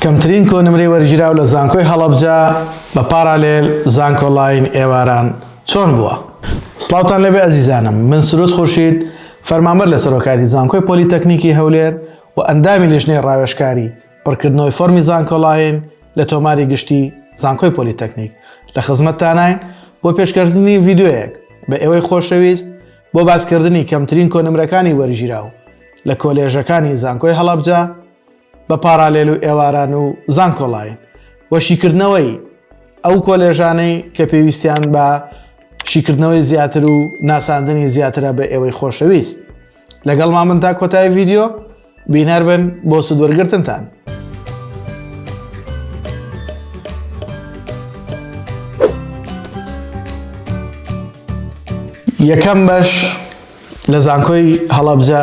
کەمترین کۆنمرەی وەرگیراو لە زانکۆی هەڵەبجە بە پارالێل زانکۆ ڵاین ئێواران چۆن بووە؟ سڵاوتان لێبێ ئەزیزانم من سرود خورشید فەرمانبەر لە سەرۆکاتی زانکۆی پۆلیتەکنیکی هەولێر و ئەندامی لیژنەی ڕاوێژکاری پڕکردنەوەی فۆرمی زانکۆ ڵاین لە تۆماری گشتی زانکۆی پۆلیتەکنیک لە خزمەتتاناین بۆ پێشکەشتنی ڤیدیۆیەک بە ئێوەی خۆشەویست بۆ باسکردنی کەمترین کۆنمرەکانی وەرگیراو لە کۆلێژەکانی زانکۆی هەڵەبجە بە پارالێل و ئێواران و زانکۆلاین و شیکردنەوەی ئەو کۆلێژانەی کە پێویستیان بە شیکردنەوەی زیاتر و ناساندنی زیاترە بە ئێوەی خۆشەویست لەگەڵ مامن تا کۆتای ڤیددیو بینەر بن بۆ سودوەرگرتنتان. یەکەم بەش لە زانکۆی هەڵەبجە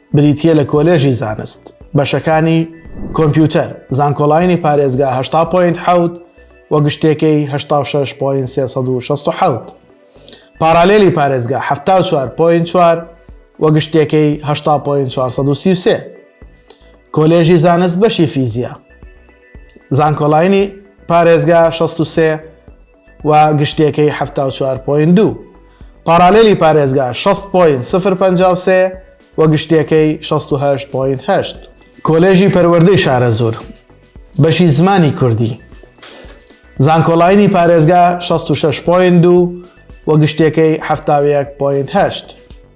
بریتییە لە کۆلێژی زانست، بەشەکانی کۆمپیوتەر، زانکۆلاینی پارێزگا هەشتا پۆینت حەوت و گشتێکەی هەشتا و شەش پۆینت سێ سەد و شەست و حەوت. پارالێلی پارێزگا حەفتا و چوار پۆینت چوار و گشتێکەی هەشتا پۆینت چوار سەد و سی و سێ. کۆلێژی زانست بەشی فیزیا، زانکۆلاینی پارێزگا شەست و سێ و گشتیەکەی حەفتا و چوار پۆینت دوو. پاڕالێلی پارێزگا شەست پۆینت سفر پەنجا و سێ و گشتیەکەی شەست و هەشت پۆینت هەشت. کۆلێژی پەروەردەی شارەزوور، بەشی زمانی کوردی، زانکۆلاینی پارێزگا شەست و شەش پۆینت دوو و گشتیەکەی حەفتا و یەک پۆینت هەشت.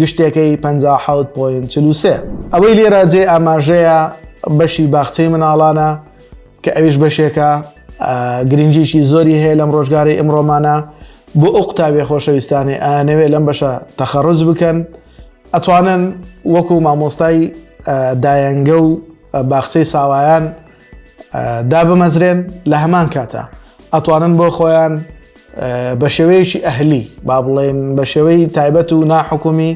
گشتەکەی پەنجا و حەوت پۆینت چل و سێ. ئەوەی لێرە جێی ئاماژەیە بەشی باخچەی مناڵانە کە ئەویش بەشێکە گرنگیشی زۆری هەیە لەم ڕۆژگاری ئمڕۆمانە بۆ ئەو قوتابێ خۆشەویستانی ئەنەوێ لەم بەشە تەخەڕز بکەن ئەتوانن وەکو مامۆستای دایەنگە و باخچەی ساوایان دابمەزرێن لە هەمان کاتە ئەتوانن بۆ خۆیان بە شێوەیەکی ئەهلی با بڵێن بە شێوەی تایبەت و ناحکومی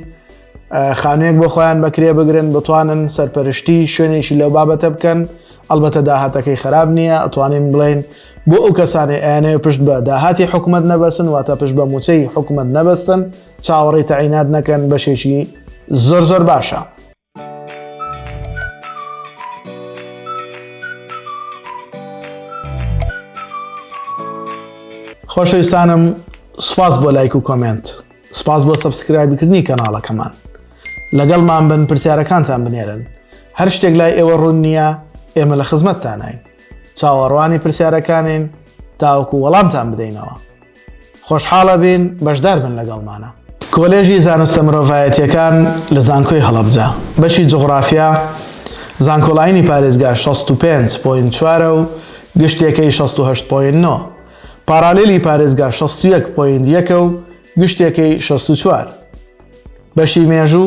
خانوێک بۆ خۆیان بەکرێ بگرن بتوانن سەرپەرشتی شوێنێکی لەو بابەتە بکەن ئەلبەتە داهاتەکەی خراب نییە ئەتوانین بڵین بۆ ئەو کەسانی ئەیانەیە پشت بە داهاتی حکوومەت نەبەسن واتە پشت بە موچەی حکوومەت نەبەستن چاوەڕی تەعینات نەکەن بەشێکی زۆر زۆر باشە. خۆشەویستانم سوپاس بۆ لایک و کۆمێنت سوپاس بۆ سەبسکرایبکردنی کەناڵەکەمان لەگەڵمان بن پرسیارەکانتان بنێرن هەر شتێک لای ئێوە ڕوون نییە ئێمە لە خزمەتتانین چاوەڕوانی پرسیارەکانین تاوەکو وەڵامتان بدەینەوە خۆشحاڵەبین بەشدار بن لەگەڵمانە. کۆلێژی زانستە مرۆڤایەتیەکان لە زانکۆی هەڵەبجە بەشی جوغڕافیا زانکۆلاینی پارێزگا شەست و پێنج پۆینت چوار ە و گشتێکەی شەست و هەشت پۆینت نۆ، پارالیلی پارێزگا شەست و یەک پۆینت یەک ە و گشتێکەی شەست و چوار. بەشی مێژوو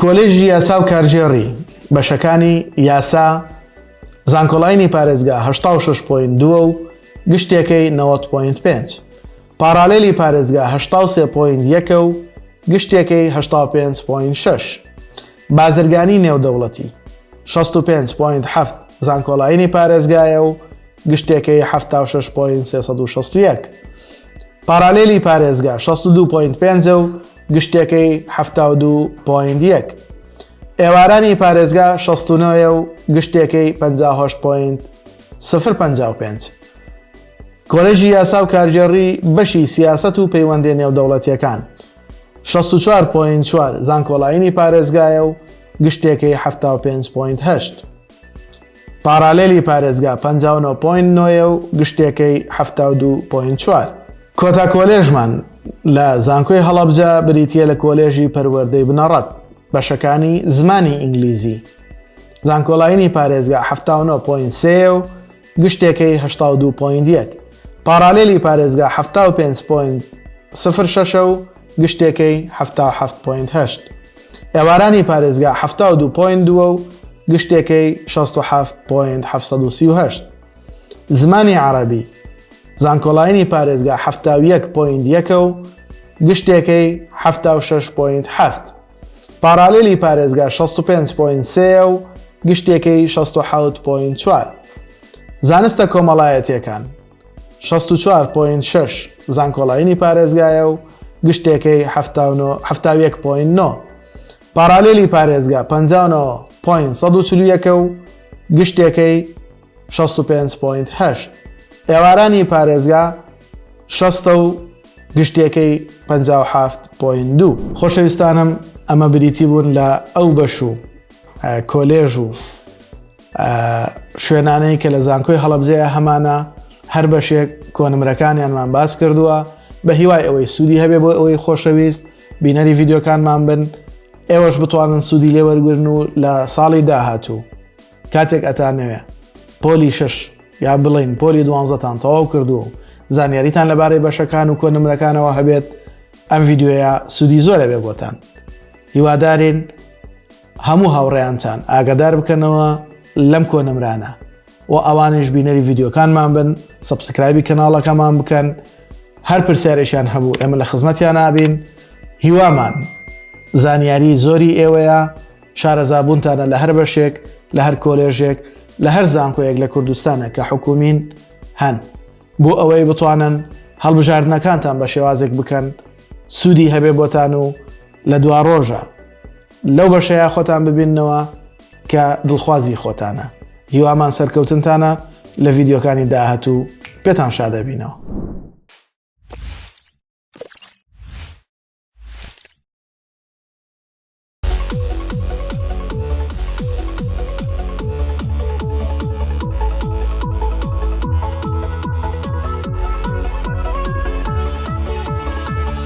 کۆلێژی یاسا و کارگێڕی، بەشەکانی یاسا، زانکۆلاینی پارێزگا هەشتا و شەش پۆینت دوو و گشتێکەی نەوەد پۆینت پێنج، پاڕالێلی پارێزگا هەشتا و سێ پۆینت یەک و گشتێکەی هەشتا و پێنج پۆینت شەش، بازرگانی نێودەوڵەتی، شەست و پێنج پۆینت حەفت زانکۆلاینی پارێزگایە و گشتێکەی حەفتا و شەش پۆینت سێ سەد و شەست و یەک، پاڕالێلی پارێزگا شەست و دوو پۆینت پێنج و گشتەکەی حفتا و دو پۆینت یەک ئێوارانی پارێزگا شەستونەوەە و گشتەکەی پ پۆینت سفر پ پێنج کۆلێژی یاسا و کارگێڕی بەشی سیاست و پەیوەندی نێودەوڵەتیەکان شەست و چوار پۆینت چوار زانکۆڵاینی پارێزگایە و گشتەکەی حفتا و پێنج پۆینت هەشت پاڕالێلی پارێزگا پەنجا و نۆ پۆینت نۆیە و گشتێکەی حەفتا و دوو پۆینت چوار. کۆتا کۆلێژمان لە زانکۆی هەڵەبجە بریتییە لە کۆلێژی پەروەردەی بنەڕەت بەشەکانی زمانی ئینگلیزی زانکۆلاینی پارێزگا حەفتا و نۆ پۆینت سێ و گشتێکەی هەشتا و دوو پۆینت یەک پاڕالێلی پارێزگا حەفتا و پێنج پۆینت سفر شەشە و گشتێکەی حەفتا و حەفت پۆینت هەشت. ئێوارانی پارێزگا حەفتا و دوو پۆینت دووە و گشتێکەی شەست و حەفت پۆینت حەفت سەد و سی و هەشت. زمانی عەرەبی زانکۆلاینی پارێزگا حەفتا و یەک پۆینت یەکە و گشتێکەی حەفتا و شەش پۆینت حەفت. پاڕالێلی پارێزگا شەست و پێنج پۆینت سێیە و گشتێکەی شەست و حەوت پۆینت چوار. زانستە کۆمەڵایەتییەکان. شەست و چوار پۆینت شەش زانکۆڵاینی پارێزگایە و گشتێکەی حەفتا و نۆ حەفتا و یەک پۆینت نۆ پارالیلی پارێزگا پەنجا و نۆ پۆینت سەد و چل و یەکە و گشتێکەی شەست و پێنج پۆینت هەشت ئێوارانی پارێزگا شەستە و گشتێکەی پەنجا و حەفت پۆینت دوو خۆشەویستانم ئەمە بریتی بوون لە ئەو بەش و کۆلێژ و شوێنانەی کە لە زانکۆی هەڵبزەیە هەمانە هەر بەشێک کۆنمرەکانیانمان باس کردووە بە هیوای ئەوەی سوودی هەبێ بۆ ئەوەی خۆشەویست بینەری ڤیددیوکانمان بن ئێوەش بتوانن سوودی لێوەرگرن و لە ساڵی داهاتوو کاتێک ئەتانەوێ پۆلی شش یا بڵین پۆلی دوانزەتان تەواو کردو و زانیاریتان لەبارەی بەشەکان و کۆنمرەکانەوە هەبێت ئەم ڤیددیوەیە سوودی زۆرە بێ بۆتان هیوادارین هەموو هاوڕێیانتان ئاگادار بکەنەوە لەم کۆنمرانە و ئەوانش بینەری ڤیددیوکانمان بن سبسکرایبی کەناڵەکەمان بکەن هەر پرسیارێکیان هەبوو ئێمە لە خزمەتیان نابین هیوامان زانیاری زۆری ئێوەیە شارەزابوونتانە لە هەر بەشێک لە هەر کۆلێژێک لە هەر زانکۆیەک لە کوردستانە کە حکومین هەن بۆ ئەوەی بتوانن هەڵبژاردنەکانتان بە شێوازێک بکەن سوودی هەبێ بۆتان و لە دوا ڕۆژە لەو بەشەیە خۆتان ببینەوە کە دڵخوازی خۆتانە هیوامان سەرکەوتنتانە لە ڤیددیوکانی داهاتوو پێتان شادەبینەوە.